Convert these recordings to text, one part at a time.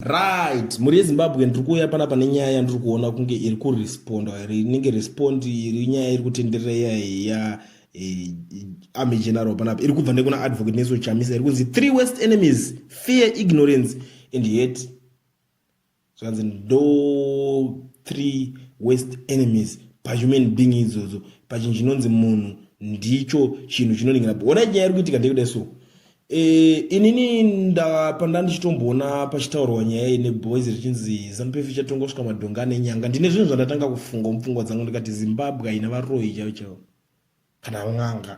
Right, mhuri yeZimbabwe ndiri kuuya panapa nenyaya yandiri kuona kunge iri kuresponda here inenge respond iri nyaya iri kutenderera iya ya eh, army general panapa iri kubva nekuna advocate neso chamisa iri kunzi three west enemies fear ignorance and hate zvanzi ndo three west enemies pahuman being idzodzo pachinhu chinonzi munhu ndicho chinhu chinoningira ona nyaya iri kuitika ndekuda so E, inini ndapa ndandichitomboona pachitaurwa nyaya iyi neboys richinzi zanupf ichatonga kusvika madhonga ane nyanga ndine zvinhu zvandatanga kufunga mupfungwa dzangu ndikati zimbabwe haina varoyi chaivo chaivo kana n'anga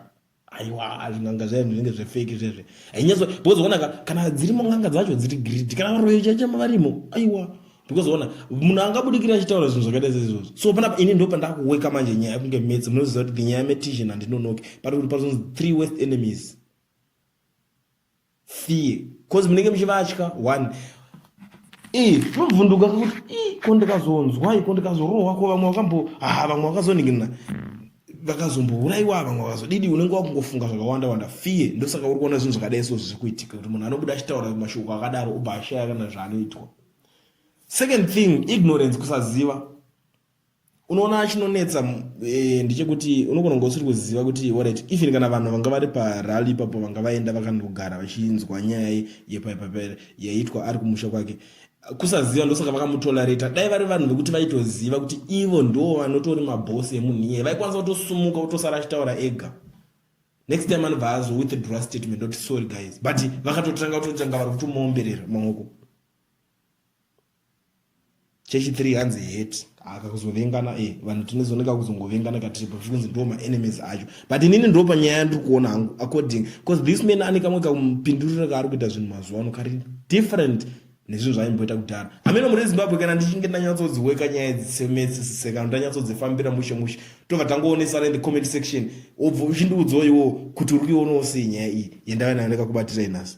aiwa zvin'anga zvayo zvinenge zvefeki zvezve hainyatso because onaka kana dzirimo n'anga dzacho dziri gridi kana varoyi chaicho varimo aiwa because ona munhu angabudikira achitaura zvinhu zvakaita seizvozvo so panapa ini ndo pandakuweka manje nyaya kunge metsi munoziva kuti nyaya metishen handinonoki pari kuti pazonzi three west enemies fear cause munenge muchivatya one zvobvunduka kuti ko ndikazonzwai ko ndikazorohwa ko vamwe vakambo ha vamwe vakazoningina vakazombouraiwa vamwe vakazodidi unenge wakungofunga zvakawanda wanda fear ndosaka uri kuona zvinhu zvakadai so zviri kuitika kuti munhu anobuda achitaura mashoko akadaro obva ashaya kana zvaanoitwa second thing ignorance kusaziva unoona chinonetsa eh, ndechekuti unogona kunge usiri kuziva kuti orit even kana vanhu vanga vari parally ipapo vanga vaenda vakandogara vachinzwa nyaya yepaipaper yaitwa ari kumusha kwake kusaziva ndosaka vakamutolerata dai vari vanhu vekuti vaitoziva kuti ivo ndo vanotori mabhosi emunhu iyeye vaikwanisa kutosumuka kutosara achitaura ega next time anobva azo withdraw statement oti sorry guys but vakatotanga kutotanga vari kutomuomberera maoko chechi 3 hanzi hate haka kuzovengana e vanhu tinezoneka kuzongovengana katiri pafi kunzi ndo maenemies acho but inini ndo panyaya yandiri kuona hangu according bcause this man ane kamwe kamupinduriro kaari kuita zvinhu mazuva ano kari different nezvinhu zvaimboita kudhara hameno muri zimbabwe kana ndichinge ndanyatsodziweka nyaya dzisemetsisise kana ndanyatsodzifambira mushe mushe tobva tangoonesana in the comment section obva uchindiudzoiwo kuti uri kuionawo sei nyaya iyi yendave nayo ndakakubatira inhasi